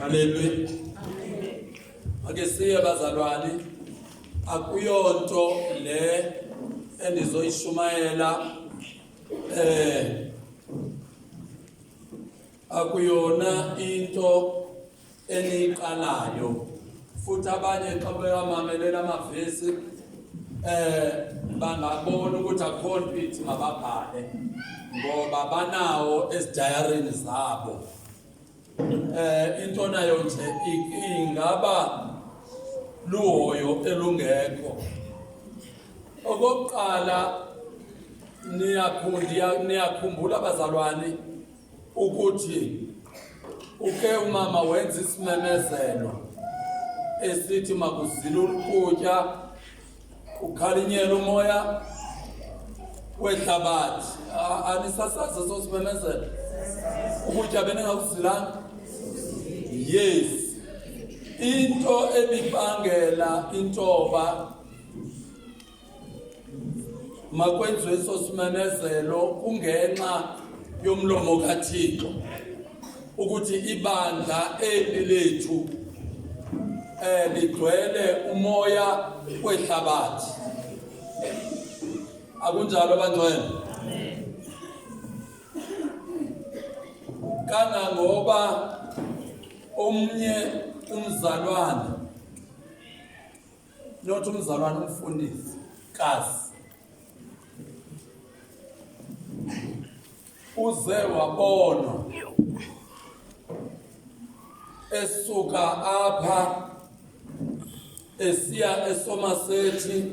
Haleluya. Ake siye bazalwane, akuyonto le endizoyishumayela eh akuyona into eniqalayo futhi abanye xa bewamamelela amavesi eh bangabona ukuthi akho nto ithi mababhale ngoba banawo ezidayarini zabo eh into nayo nje ingaba luhoyo elungekho okokuqala niyakhumbula abazalwane ukuthi uke umama wenza isimemezelo esithi makuzile ukutya kukhalinyela umoya wehlabathi anisasazi eso simemezelo ukutya beningakuzilanga yes into ebibangela intoba makwenziwe eso simemezelo kungenxa yomlomo kaThixo ukuthi ibandla eli lethu eh ligcwele umoya wehlabathi akunjalo bangcwele kangangoba omnye umzalwane not umzalwana umfundisi kazi uze wabonwa esuka apha esiya esomasethi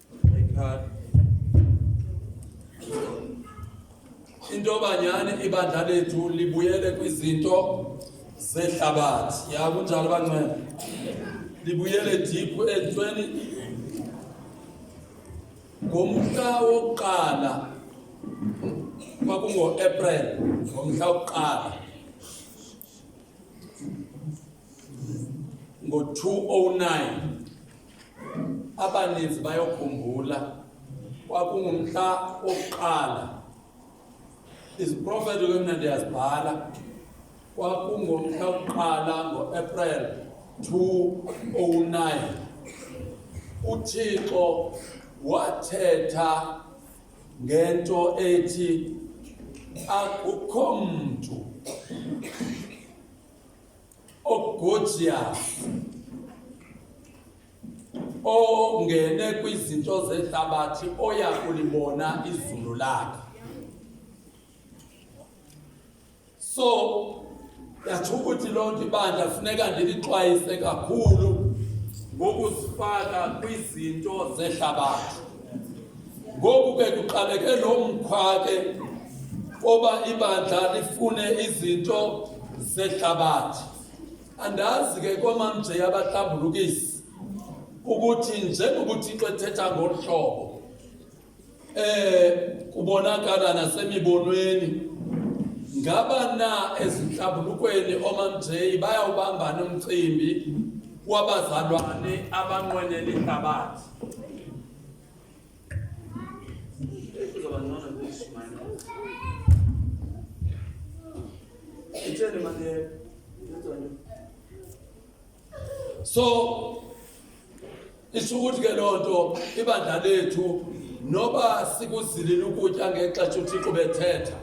into banyani ibandla lethu libuyele kwizinto zehlabathi ya kunjalo banceba libuyele diphu ezintweni ngomhla wokuqala kwakungo-april ngomhla wokuqala ngo-209 abaninzi bayokhumbula kwakungumhla wokuqala iziprofethi ke mna ndiyazibhala kwakungomhla wokuqala ngoapril 209 uthixo wathetha ngento ethi akukho mntu Ogojia ongene kwizinto zehlabathi oya kulibona izulu lakhe so yatsho ukuthi loo nto ibandla funeka ndilixwayise kakhulu ngokuzifaka kwizinto zehlabathi Ngoku ke kuqaleke lo mkhwa ke oba ibandla lifune izinto zehlabathi. Andazi ke komamnje yabahlambulukisi ukuthi njengoba uThixo ethetha ngolu hlobo eh kubonakala nasemibonweni ngaba na ezinhlambulukweni omamnjeyi bayawubambana umcimbi wabazalwane abanqwenela ihlabathi so isho ukuthi ke loo nto ibandla lethu noba sikuzilile ukutya ngexesha uthixo bethetha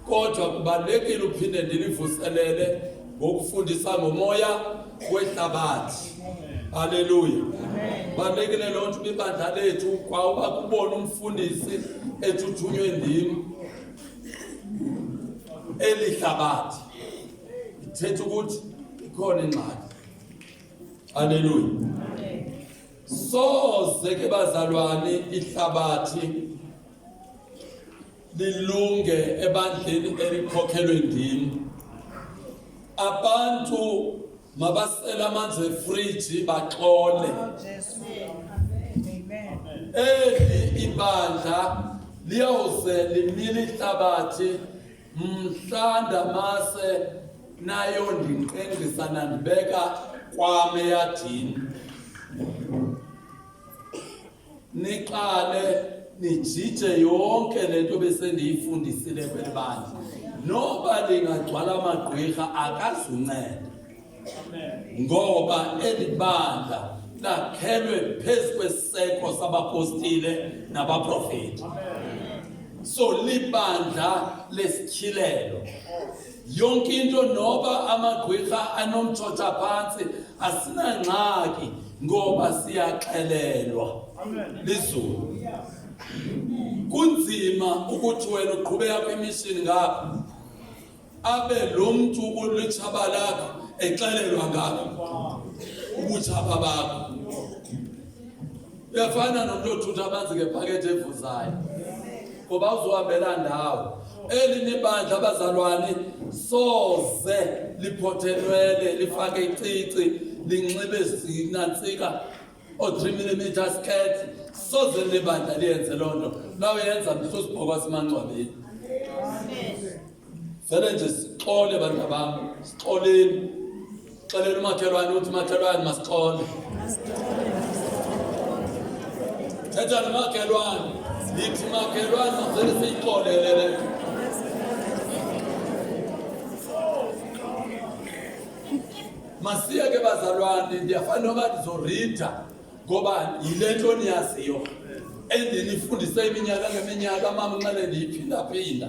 kodwa kubalulekile uphinde ndilivuselele ngokufundisa ngomoya wehlabathi haleluya balekile loo nto ibandla lethu kwawuba kubona umfundisi etshuthunywe ndim eli hlabathi ithetha ukuthi ikhona ingxaki haleluya soze ke bazalwane ihlabathi lilunge ebandleni elikhokhelwe ndim abantu mabasele amanzi efriji baxole eli ibandla liyawuze limile ihlabathi mhla ndamase nayo ndinqengqisa nandibeka kwam eyadini niqale nijije yonke le nto besendiyifundisile kweli bandla noba lingagcwala amagqwirha akazunceda ngoba eli bandla lakhelwe phezu kwesiseko sabapostile nabaprofeti so libandla lesityhilelo yonke into noba amagqwirha anomtshotsha phantsi asinangxaki ngoba siyaxelelwa lizulu kunzima ukuthi wena uqhubeka kwimishini ngapha abe lo mntu ulitshaba lakho exelelwa ngakho ubutshaba bakho uyafana nomntu othutha amanzi ngephakethi evuzayo ngoba uzohambela ndawo eli nibandla abazalwane soze liphothelwele lifake icici linxibe zinantsika o-three millimeter skirt soze libandla liyenze loo nto nawe yenza mhla usibhokwa simangcwabeni Vele nje sixole bantu bam, sixoleni. Xeleni umakhelwane uthi makhelwane masixole. Thetha nomakhelwane. Yithi makhelwane masele siyixolele le nto. Masiye ke bazalwane ndiyafana noba ndizorida ngoba yile nto niyaziyo endinifundise iminyaka ngeminyaka mama nxele ndiyiphindaphinda.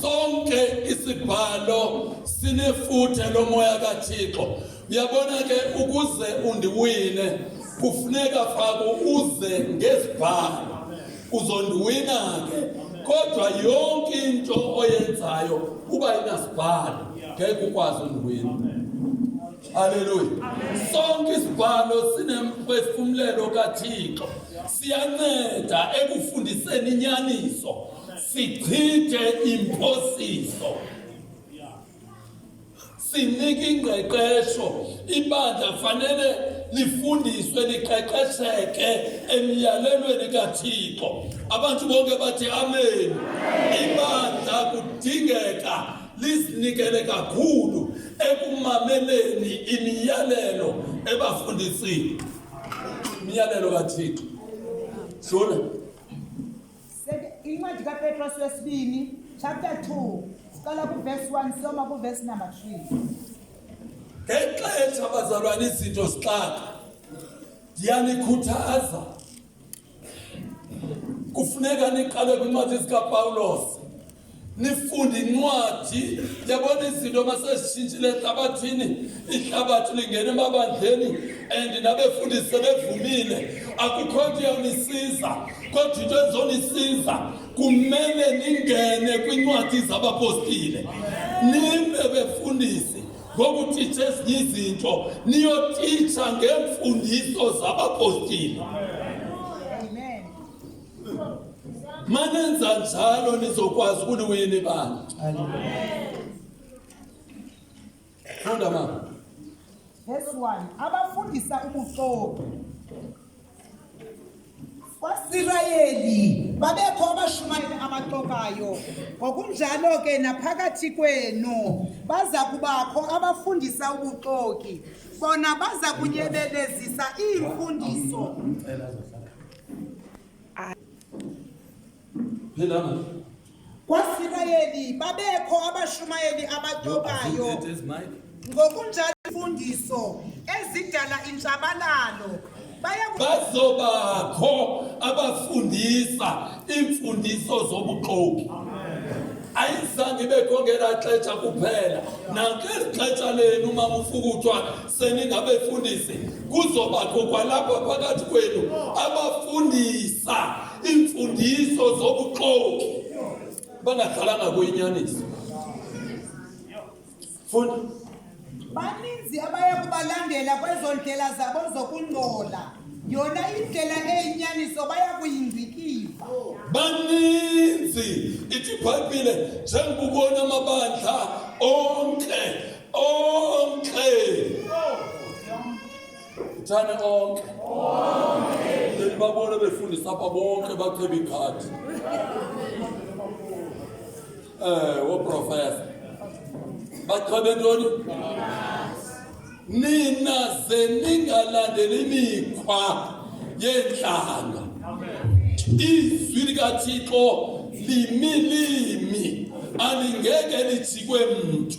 Sonke isibhalo sinefuthe lomoya kaThixo. Uyabona ke ukuze undiwine kufuneka faku uze ngezibhalo uzondiwina ke kodwa yonke into oyenzayo uba inasibhalo ngeke ukwazi undiwina Haleluya. Sonke isibhalo sinemphefumlelo kaThixo. Siyanceda ekufundiseni inyaniso. sichithe imphosiso sinika ingqeqesho ibandla fanele lifundiswe liqeqesheke emyalelweni kathixo abantu bonke bathi amen ibandla kudingeka lizinikele kakhulu ekumameleni imiyalelo ebafundisini imiyalelo kathixo sona incwadi kapetros wesibini chapter 2 siqala kuvesi 1 siyoma kuvesi number 3 ngexesha abazalwana izinto zixaka ndiyanikhuthaza kufuneka niqale kwincwadi zikapawulos nifunda incwadi yabona izinto masezishintshile ehlabathini ihlabathi lingena emabandleni and nabefundisi sebevumile akukho nto iyawunisiza kodwa into ezonisiza kumele ningene kwincwadi zabapostile nime befundisi ngokutitsha ezinye izinto niyotitsha ngeemfundiso zabapostile Manenza njalo nizokwazi ukuliwina ibanga. Funda mama. Verse 1. Abafundisa ubuxoki. KwaSirayeli babekho abashumayeli abaxokayo. Ngokunjalo ke naphakathi kwenu baza kubakho abafundisa ubuxoki. Bona baza kunyebelezisa iimfundiso. KwaSirayeli babekho abashumayeli abacokayo ngokunjalo imfundiso ezidala intshabalalo bazobakho abafundisa iimfundiso zobuxoki ayizange ibekho ngelaa xetsha kuphela nakweli xetsha lenu uma ufukuthwa seningabefundisi kuzobakho kwalapha phakathi kwenu abafundisa iimfundiso zobuxoki bangadlalanga kuyinyaniso funda baninzi abaya kubalandela kwezo ndlela zabo zokungcola yona indlela eyinyaniso baya kuyingcikiva baninzi ithi ibhayibhile njengubona amabandla onke onke thane onke then babone befundisa apha bonke baceba ikhadi um woprofesa bacebe ntoni nina ze ningalandeli imikhwa yeentlanga izwi likathixo limi limi alingeke lijikwe mntu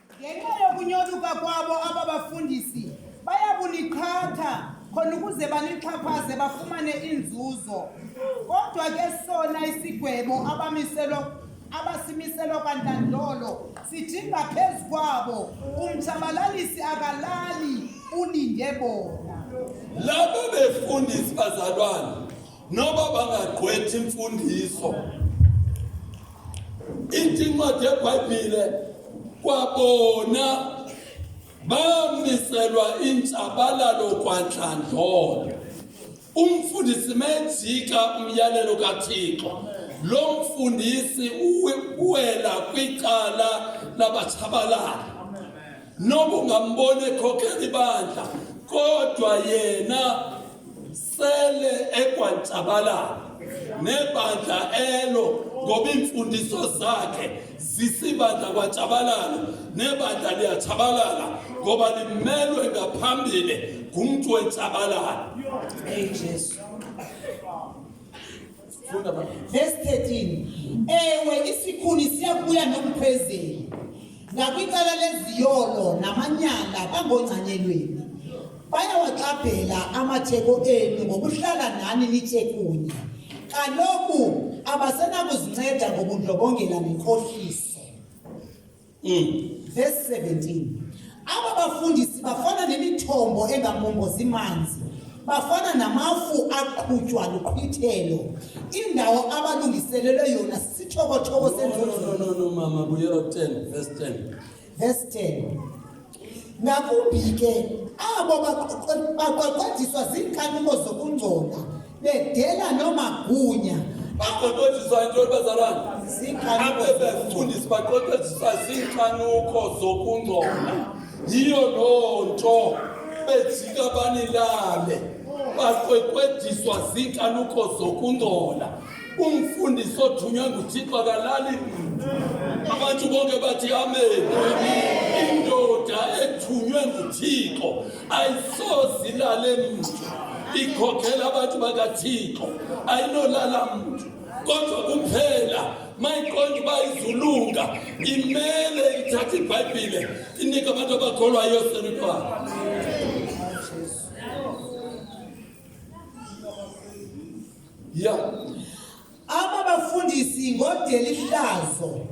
Ngenxa yokunyoluka kwabo aba bafundisi baya kuniqhatha khona ukuze banixhaphaze bafumane inzuzo. Kodwa ke sona isigwebo abamiselwa abasimiselwa kwantandlolo sidinga phezu kwabo umtshabalalisi akalali ulinde bona. Labo befundisi bazalwane noba bangagqwethi imfundiso ithi incwadi yebhayibhile kwabona bamiselwa intshabalalo kwantlandlolo umfundisi mejika umyalelo kathixo lo mfundisi uwela kwicala labatshabalali noba ungamboni ekhokhela ibandla kodwa yena sele ekwantsabalala nebandla elo ngoba iimfundiso zakhe zisibandla kwantshabalala nebandla liyatshabalala ngoba limelwe ngaphambili ngumntu wentsabalala Verse 13. Ewe isikhuni siyakubuya nomphezeli ngakwicala leziyolo namanyala bangongcanyelweni bayawaxabhela amatheko enu ngokuhlala nani nitye kunye kaloku abasenakuzinceda ngobundlobongela nenkohliso mm. verse 17 aba bafundisi bafana nemithombo engamongozi manzi bafana namafu aqhutywa luqhwithelo indawo abalungiselelwe yona sithokothoko senzolo no, no, no, no, mama buyela 10 verse 10 verse 10 ngakumbi ke abo baqweqwediswa ziinkanimo zokungcola bedela noomagunya baqweqwediswa yintoni bazalwana abebefundisi baqweqwediswa ziinkanuko zokungcola yiyo loo nto bejika banilale baqweqwediswa ziinkanuko zokungcola Umfundisi othunywe nguThixo akalali. Abantu bonke bathi amen. Indoda ethunywe nguThixo ayisoze ilale mntu. Ikhokhela abantu bakaThixo ayinolala mntu. Kodwa kuphela mayiqonda uba izulunga imele ithathe ibhayibhile inike abantu abakholwayo selutwana ya aba bafundisi ngodelihlazo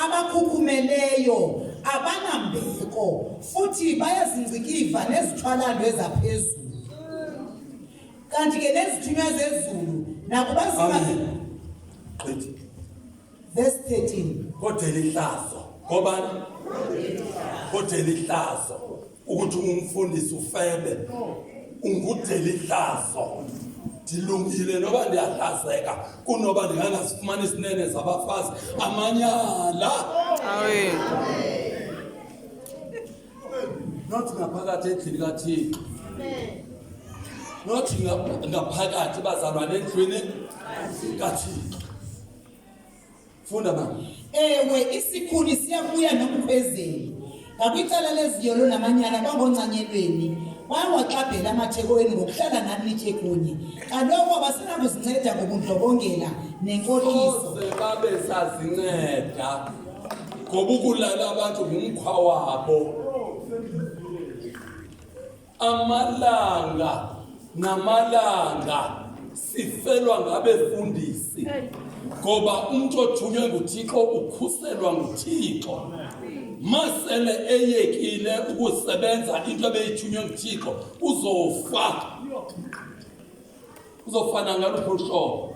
abakhukhumeleyo abanambeko futhi bayazingcikiva nezithwalando ezaphezulu kanti ke nezithunywa zezulu nakuba Verse 13. kodwa elihlazo ngobani kodwa elihlazo ukuthi ungumfundisi ufebe ungudelihlazo ndilungile noba ndiyahlazeka kunoba ndingangazifumani isinene zabafazi amanyala Amen. not ngaphakathi endlini kathixo not nga- ngaphakathi bazalwane endlwini kathixo Funda ba. Ewe isikhuni siyabuya nokuphezeli. Ngakwicala leziyolo namanyala kwangoncanyelweni wawaxabhela amathekoweni ngokuhlala nani nitye kunye kaloku abasenakuzinceda ngobundlobongela nenkoliso babe sazinceda ngoba ukulala abantu ngumkhwa wabo Amalanga namalanga sifelwa ngabefundisi ngoba umntu othunywe nguThixo ukhuselwa nguThixo. Masele eyekile ukusebenza into ebeyithunywe nguThixo uzofa, uzofana ngaluphi uhlobo.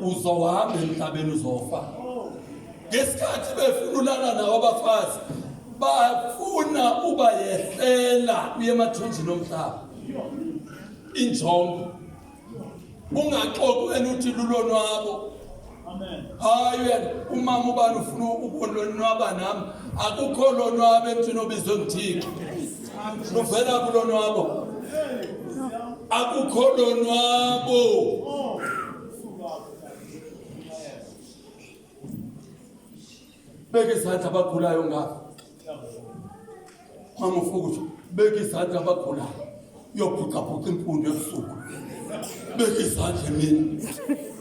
uzohamba emhlabeni uzofa ngesikhathi befuna ulala nawo abafazi bafuna uba yehlela uye emathunjini omhlaba injongo ungaxoki wena uthi lulonwabo hayi wena umama ubani ufuna ukulonwaba nam akukho lonwabo emthini obizwe nguthixo luvela kulonwabo akukho lonwabo beka izandla abagulayo ngapha mama ufukutsho beka izandla abagulayo uyobhucabhuca imfundo ebusuku beka izandla emini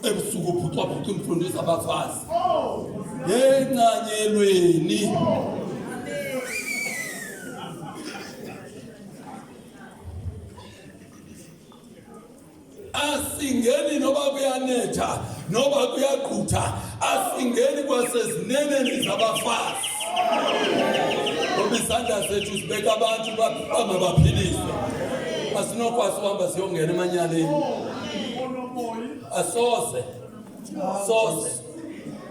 ebusuku ubhucabhuca imfundo zabafazi yencanyelweni asingeni noba kuyanetha noba kuyagqutha asingeni kwasezineneni zabafazi ngoba izandla zethu zibeka abantu bangabaphiliswe asinokwazi uhamba siyongena emanyaleni asoze soze